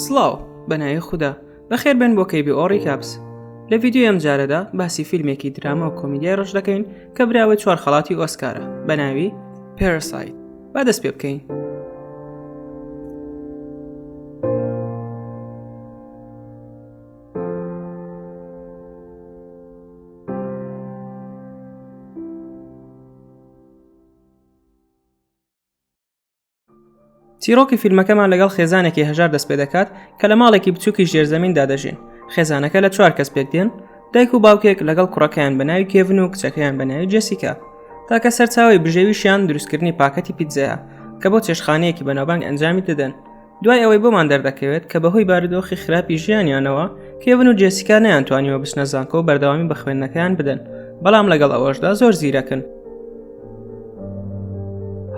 سڵاو بەناوی خوددا بەخێر بن بۆ کەیبی ئۆڕی کاپس لە ڤیددیو ئەم جارەدا باسی فیلمێکی دراما و کۆمیدیای ڕژ دەکەین کە براوە چوار خەڵاتی ئۆسکارە بەناوی پێرسایت با دەست پێ بکەین چیرۆکی فیلمەکەمان لەگەڵ خێزانێکی هەژار دەست پێ دەکات کە لە ماڵێکی بچووکی ژێرزەمیندا دەژین خێزانەکە لە چوار کەس پێک دێن دایک و باوکێک لەگەڵ کوڕەکەیان بە ناوی کێڤن و کچەکەیان بە ناوی جسیکە تاکە سەرچاوی بژێویشیان دروستکردنی پاکەتی پیتزەیە کە بۆ چێشخانەیەکی بەناوبانگ ئەنجامی دەدەن دوای ئەوەی بۆمان دەردەکەوێت کە بەهۆی بارودۆخی خراپی ژیانیانەوە کێون و جێسیکا نیان توانیوە بچنە زانکۆ و بەردەوامی بە خوێندنەکەیان بدەن بەڵام لەگەڵ ئەوەشدا زۆر زیرەکن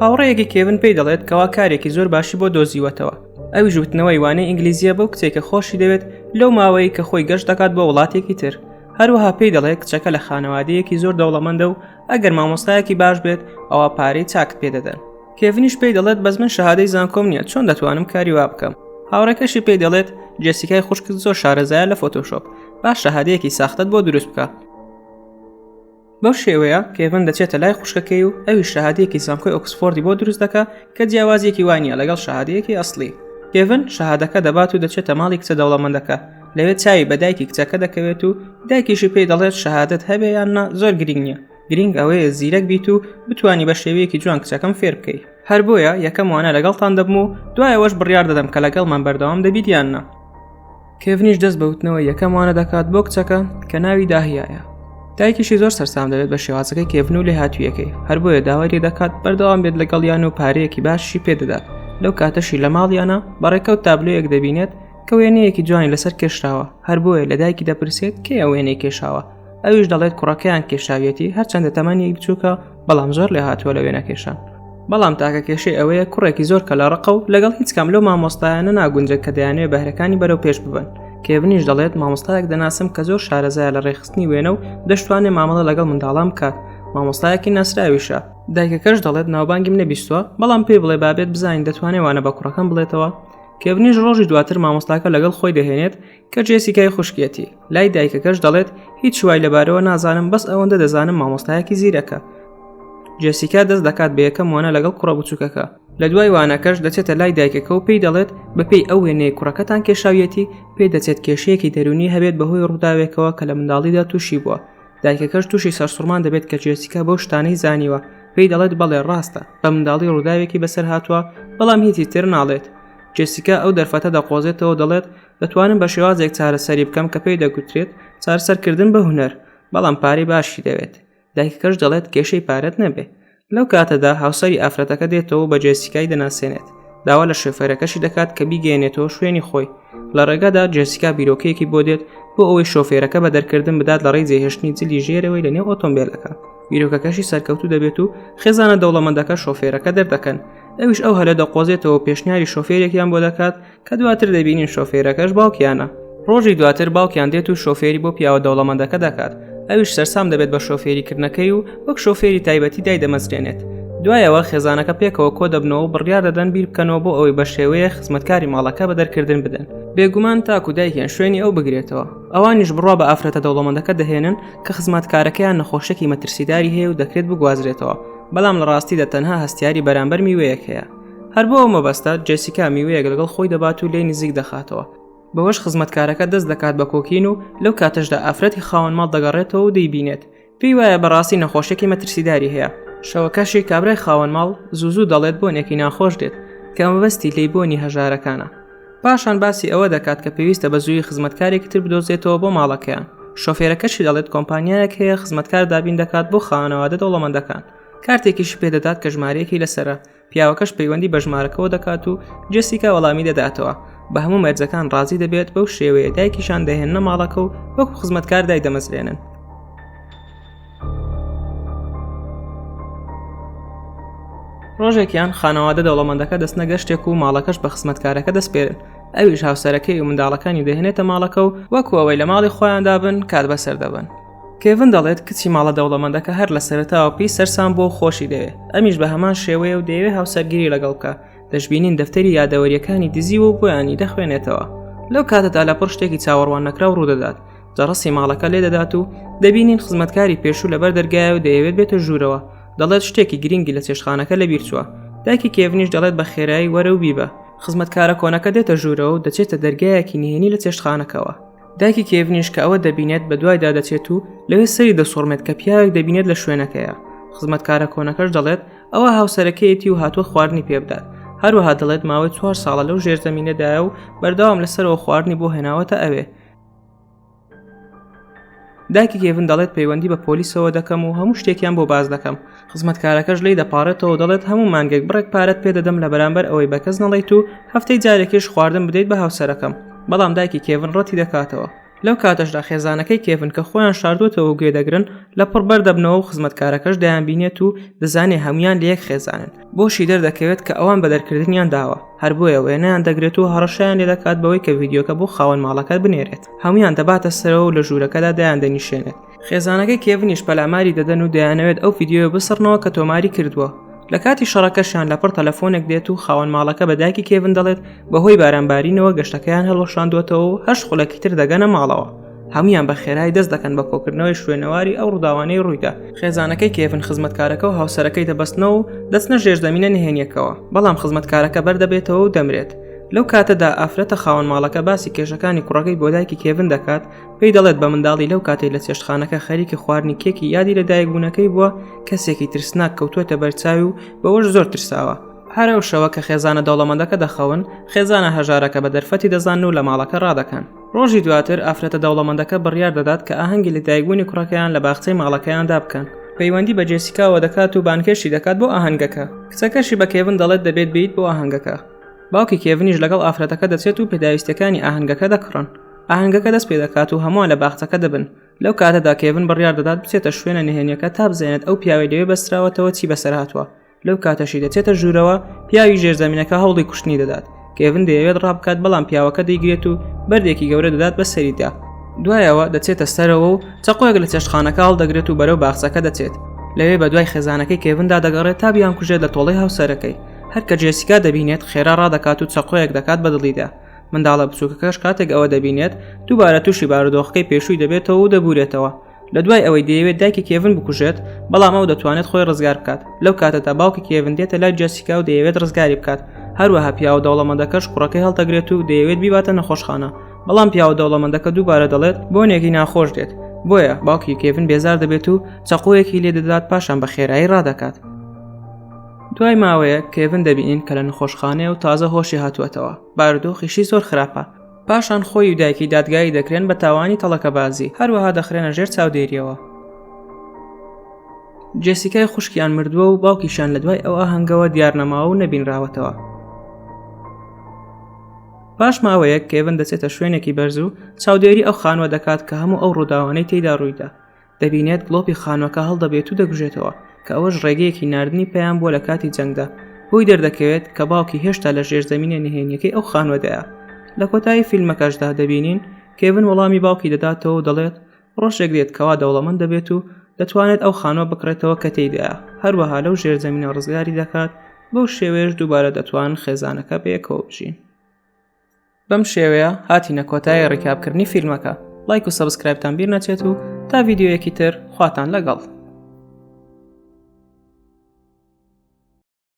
هاوڕەیەکی کێون پێی دەڵێت کەوا کارێکی زۆر باشی بۆ دۆزیوەتەوە ئەوی ژوتنەوەی وانەی ئینگلیزیە بەو کچێک کە خۆشی دەوێت لەو ماوەیە کە خۆی گەشت دەکات بۆ وڵاتێکی تر هەروەها پێی دەڵێ کچەکە لە خانەوادەیەکی زۆر دەوڵەمەندە و ئەگەر مامۆستایەکی باش بێت ئەوە پارەی چاک پێدەدەن کێڤنیش پێی دەڵێت بەس من شەهادەی زانکۆم نییە چۆن دەتوانم کاری وا بکەم هاوڕێکەشی پێی دەڵێت جێسیکای خوشکت زۆر شارەزایە لە فۆتۆشۆپ باش شەهادەیەکی ساختت بۆ دروست بکە بەو شێوەیە کێڤن دەچێتە لای خوشکەکەی و ئەوی شەهادەیەکی زانکۆی ئۆکسفۆردی بۆ دروست دەکە کە جیاوازیەکی وانە لەگەڵ شەهادەیەکی ئەسلی کێڤن شەهادەکە دەبات و دەچێتە ماڵی کچە دەوڵەمەندەکە لەوێ چاوی بە دایکی کچەکە دەکەوێت و دایکیشی پێی دەڵێت شەهادت هەبێ یان نا زۆر گرنگ نییە گرنگ ئەوەیە زیرەک بیت و بتانی بە شێوەیەکی جوان کچەکەم فێر بکەی هەر بۆیە یەکەم وانە لەگەڵتان دەبم و دوایەوەش بڕیار دەدەم کە لەگەڵمان بەردەوام دەبیت یاننا کێڤنیش دەست بەوتنەوە یەکەم وانە دەکات بۆ کچەکە کە ناوی داهیایە دایکیشی زۆر سەرسام دەبێت بە شێوازەکەی کێڤن و لێ هاتوویەکەی هەر بۆیە داوای لێ دەکات بەردەوام بێت لەگەڵ یان و پارەیەکی باشی پێدەدات لەو کاتەشی لە ماڵیانە بەڕێکەوت تابلۆیەک دەبینێت کە وێنەیەکی جوانی لەسەر کێشراوە هەر بۆیە لە دایکی دەپرسێت کێ ئەوێنەی کێشاوە ئەویش دەڵێت کوڕەکەیان کێشاویەتی هەرچەندە تەمەنی بچووکە بەڵام زۆر لێ هاتووە لە وێنە کێشان بەڵام تاکە کێشەی ئەوەیە کوڕێکی زۆر کە لە ڕقە و لەگەڵ هیچ کام لەو مامۆستایانە ناگونجە کە دەیانێ بەهرەکانی بەرەو پێش ببن کێبنیش دەڵێت مامۆستایەک دەناسم کە زۆر شارەزایە لە ڕێخستنی وێنە و دەشتوانێ مامەڵە لەگەڵ منداڵان بکات مامۆستایەکی ناسراویشە دایکەکەش دەڵێت ناوبانگیم نەبیستوە بەڵام پێی بڵێ بابێت بزانین دەتوانێت وانە بە کوڕەکەم بڵێتەوە کێبنیش ڕۆژی دواتر مامۆستاکە لەگەڵ خۆی دەهێنێت کە جێسیکای خوشکیەتی لای دایکەکەش دەڵێت هیچ وای لەبارەوە نازانم بەس ئەوەندە دەزانم مامۆستایەکی زیرەکە جێسیکا دەست دەکات بە یەکەم وانە لەگەڵ کوڕە بچووکەکە لە دوای وانەکەش دەچێتە لای دایکەکە و پێی دەڵێت بەپێی ئەو وێنەیە کوڕەکەتان کێشاویەتی پێ دەچێت کێشەیەکی دەرونی هەبێت بەهۆی ڕووداوێکەوە کە لە منداڵیدا تووشی بووە دایکەکەش تووشی سەرسوڕمان دەبێت کە جێسیکا بەو شتانەی زانیوە پێی دەڵێت بەڵێ ڕاستە بە منداڵی ڕووداوێکی بەسەر هاتووە بەڵام هیچی تر ناڵێت جێسیکا ئەو دەرفەتە دەقۆزێتەوە دەڵێت دەتوانم بە شێوازێک چارەسەری بکەم کە پێی دەگوترێت چارسەرکردن بە هوەر بەڵام پارەی باشی دەوێت دایکەکەش دەڵێت کێشەی پارەت نەبێ لەو کاتەدا هاوسری ئافرەتەکە دێتەوە بە جێسیکای دەناسێنێت داوا لە شوفێرەکەشی دەکات کە بیگەێنێتەوە شوێنی خۆی لە ڕێگەدا جێسیکا بیرۆکەیەکی بۆ دێت بۆ ئەوەی شۆفێرەکە بە دەرکردن بدات لە ڕێی جێهێشتنی جلی ژێرەوەی لە نێو ئۆتۆمبیلەکە بیرۆکەکەشی سەرکەوتو دەبێت و خێزانە دەوڵەمەندەکە شۆفێرەکە دەردەکەن ئەوش ئەو هەلە دەقۆزێتەوە پێشنیاری شۆفێرێکیان بۆ دەکات کە دواتر دەبینین شۆفێرەکەش باوکیانە ڕۆژی دواتر باوکیان دێت و شۆفێری بۆ پیاوە دەوڵەمەندەکە دەکات ئەویش سەرسام دەبێت بە شۆفێریکردنەکەی و وەک شۆفێری تایبەتی دای دەمەزرێنێت دوایەوە خێزانەکە پێکەوە کۆ دەبنەوە و بڕیار دەدەن بیر بکەنەوە بۆ ئەوەی بە شێوەیە خزمەتکاری ماڵەکە بە دەرکردن بدەن بێگومان تاکو دایکیان شوێنی ئەو بگرێتەوە ئەوانیش بڕوا بە ئافرەتە دەوڵەمەندەکە دەهێنن کە خزمەتکارەکەیان نەخۆشێکی مەترسیداری هەیە و دەکرێت بگوازرێتەوە بەڵام لە ڕاستیدا تەنها هەستیاری بەرامبەر میوەیەک هەیە هەر بۆ ئەو مەبەستە جێسیکا میوەیەک لەگەڵ خۆی دەبات و لێ نزیک دەخاتەوە بەوەش خزمەتکارەکە دەست دەکات بە کۆکین و لەو کاتەشدا ئافرەتی خاوەن ماڵ دەگەڕێتەوە و دەیبینێت پێی وایە بەڕاستی نەخۆشێکی مەترسیداری هەیە شەوەکەشی کابرای خاوەن ماڵ زوزو دەڵێت بۆنێکی ناخۆش دێت کە مەبەستی لی بۆنی هەژارەکانە پاشان باسی ئەوە دەکات کە پێویستە بە زووی خزمەتکارێکی تر بدۆزێتەوە بۆ ماڵەکەیان شۆفێرەکەشی دەڵێت کۆمپانیایەک هەیە خزمەتکار دابین دەکات بۆ خانەوادە دەوڵەمەندەکان کارتێکیشی پێدەدات کە ژمارەیەکی لەسەرە پیاوەکەش پەیوەندی بە ژمارەکەەوە دەکات و جسیکا وەڵامی دەداتەوە بە هەموو مەرجەکان ڕازی دەبێت بەو شێوەیە دایکیشان دەهێنە ماڵەکە و وەکو خزمەتکار دای دەمەزرێنن ڕۆژێکیان خانەوادە دەوڵەمەندەکە دەست نەگەشتێک و ماڵەکەش بە خزمەتکارەکە دەستپێرن ئەویش هاوسەرەکەی و منداڵەکانی دەهێنێتە ماڵەکە و وەکوەوەی لە ماڵی خۆیاندا بن کات بەسەر دەبن کێڤن دەڵێت کچی ماڵە دەوڵەمەندەکە هەر لە سەرتاوە پێی سەرسان بۆ خۆشی دەوێت ئەمیش بە هەمان شێوەیە و دەیەوێ هاوسەرگیری لەگەڵ بکە دەشببینین دەفتەری یادەوەریەکانی دزی و بۆیانی دەخوێنێتەوە لەو کاتەدا لە پڕ شتێکی چاوەڕوان نەکراو ڕوودەدات دەڕستی ماڵەکە لێ دەدات و دەبینین خزمەتکاری پێشوو لەبەر دەرگایە و دەیەوێت بێتە ژوورەوە دەڵێت شتێکی گرنگی لە چێشخانەکە لە بیرچووە داکی کێڤنیش دەڵێت بە خێرایی وەرە و بیبە خزمەتکارە کۆنەکە دێتە ژوورەوە و دەچێتە دەرگایەکی نهێنی لە چێشتخانەکەەوە دایکی کێڤنیش کە ئەوە دەبینێت بە دوایدا دەچێت و لەوێ سەری دەسوڕمێت کە پیاوێک دەبینێت لە شوێنەکەیە خزمەتکارە کۆنەکەش دەڵێت ئەوە هاوسەرەکەیەتی و هاتووە خواردنی پێ بدات هەروەها دەڵێت ماوەی چوار ساڵە لەو ژێرزەمینەدایە و بەرداوام لەسەرەوە خواردنی بۆ هێناوەتە ئەوێ داکی گێڤن دەڵێت پەیوەندی بە پۆلیسەوە دەکەم و هەموو شتێکیان بۆ باز دەکەم خزمەتکارەکەش لی دەپارێتەوە دەڵێت هەموو مانگێک بڕێک پارەت پێدەدەم لە بەرامبەر ئەوەی بەکەس نەڵیت و هەفتەی جارێکیش خواردن بدەیت بە هاوسەرەکەم بەڵام دایکی کێڤن ڕەتی دەکاتەوە لەو کاتەشدا خێزانەکەی کێڤن کە خۆیان شاردوتەوە گوێ دەگرن لە پڕ بەردەبنەوە و خزمەتکارەکەش دەیان بینێت و دەزانێ هەمویان لە یەک خێزانن بۆشی دەردەکەوێت کە ئەوان بە دەرکردنیان داوە هەر بۆیە وێنیان دەگرێت و هەڕەشیان لێ دەکات بەوەی کە ڤیددیوکە بۆ خاوەن ماڵەکە بنێرێت هەمویان دەباتە سەرەوە و لە ژوورەکەدا دایان دەنیشێنێت خێزانەکەی کێڤنیش پەلاماری دەدەن و دەیانەوێت ئەو ڤیددیوە بسڕنەوە کە تۆماری کردووە لە کاتی شەڕەکەشیان لەپڕ تەلەفۆنێک دێت و خاوەن ماڵەکە بە دایکی کێڤن دەڵێت بەهۆی بارانبارینەوە گەشتەکەیان هەڵوەشاندوەتەوە و هەشت خولەکی تر دەگەنە ماڵەوە هەمویان بە خێرای دەست دەکەن بە کۆکردنەوەی شوێنەواری ئەو ڕووداوانەی ڕوویدا خێزانەکەی کێفن خزمەتکارەکە و هاوسەرەکەی دەبستنەوە و دەستنە ژێر زمینە نهێنیەکەوە بەڵام خزمەتکارەکە بەردەبێتەوە و دەمرێت لەو کاتەدا ئافرەتە خاوەن ماڵەکە باسی کێشەکانی کوڕەکەی بۆدایکی کێڤن دەکات پێی دەڵێت بە منداڵی لەو کاتەی لە چێشتخانەکە خەریکی خواردنی کێکی یادی لە دایکبوونەکەی بووە کەسێکی ترسناک کەوتووەتە بەرچاوی و بەوەش زۆر ترساوە هەرە و شەوە کە خێزانە دەوڵەمەندەکە دەخەون خێزانە هەژارەکە بە دەرفەتی دەزان و لە ماڵەکە ڕادەکەن ڕۆژی دواتر ئافرەتە دەوڵەمەندەکە بڕیار دەدات کە ئاهەنگی لەدایکبوونی کوڕەکەیان لە باخچەی ماڵەکەیاندا بکەن پەیوەندی بە جێسیکاوە دەکات و بانگهێشتی دەکات بۆ ئاهەنگەکە کچەکەشی بە کێڤن دەڵێت دەبێت بیت بۆ ئاهەنگەکە باوکی کێڤنیش لەگەڵ ئافرەتەکە دەچێت و پێداویستەکانی ئاهەنگەکە دەکڕن ئاهەنگەکە دەست پێ دەکات و هەمووان لە باخچەکە دەبن لەو کاتەدا کێڤن بڕیار دەدات بچێتە شوێنە نهێنیەکە تا بزانێت ئەو پیاوەی لەوێ بەستراوەتەوە چی بەسەر هاتووە لەو کاتەشی دەچێتە ژوورەوە پیاوی ژێرزەمینەکە هەوڵی کوشتنی دەدات کێڤن دەیەوێت ڕابکات بەڵام پیاوەکە دەیگرێت و بەردێکی گەورە دەدات بە سەریدا دوایەوە دەچێتە سەرەوە و چەقۆیەک لە چێشتخانەکە هەڵدەگرێت و بەرەو باخچەکە دەچێت لەوێ بە دوای خێزانەکەی کێڤندا دەگەڕێت تا بیان کوژێت لە تۆڵەی هاوسەرەکەی هەرکە جێسیکا دەبینێت خێرا ڕادەکات و چەقۆیەک دەکات بە دڵیدا منداڵە بچووکەکەش کاتێک ئەوە دەبینێت دووبارە تووشی بارودۆخەکەی پێشووی دەبێتەوە و دەبورێتەوە لە دوای ئەوەی دەیەوێت دایکی کێڤن بکوژێت بەڵام ئەو دەتوانێت خۆی ڕزگار بکات لەو کاتەدا باوکی کێڤن دێتە لای جەسیکا و دەیەوێت ڕزگاری بکات هەروەها پیاوە دەوڵەمەندەکەش کوڕەکەی هەڵتەگرێت و دەیەوێت بیباتە نەخۆشخانە بەڵام پیاوە دەوڵەمەندەکە دووبارە دەڵێت بۆنێکی ناخۆش دێت بۆیە باوکی کێڤن بێزار دەبێت و چەقۆیەکی لێ دەدات پاشان بە خێرایی ڕادەکات دوای ماوەیە کێڤن دەبینین کە لە نخۆشخانەیە و تازە هۆشی هاتووەتەوە بارودۆخیشی زۆر خراپە پاشان خۆی و دایکی دادگایی دەکرێن بە تاوانی تەڵەکەبازی هەروەها دەخرێنە ژێر چاودێریەوە جێسیکای خوشکیان مردووە و باوکیشان لە دوای ئەو ئاهەنگەوە دیارنەماوە و نەبینراوەتەوە پاش ماوەیەک کێبن دەچێتە شوێنێکی بەرز و چاودێری ئەو خانوە دەکات کە هەموو ئەو ڕووداوانەی تێدا ڕوویدا دەبینێت گڵۆپی خانوەکە هەڵدەبێت و دەگوژێتەوە کە ئەوەش ڕێگەیەکی نردنی پەیام بووە لە کاتی جەنگدا بۆی دەردەکەوێت کە باوکی هێشتا لە ژێر زمینە نهێنیەکەی ئەو خانوەدایە لە کۆتایی فیلمەکەشدا دەبینین کێبن وەڵامی باوکی دەداتەوە و دەڵێت ڕۆژێک دێت کەوا دەوڵەمەند دەبێت و دەتوانێت ئەو خانوە بکڕێتەوە کە تێیدا هەروەها لەو ژێر زمینە ڕزگاری دەکات بەو شێوەیەش دووبارە دەتوان خێزانەکە بەیەکەوە بژین بەم شێوەیە هاتینە کۆتای ڕیکابکردنی فیلمەکە لایک و سەبسکرایبتان بیر نەچێت و تا ڤیددیوەکی تر خواتان لەگەڵ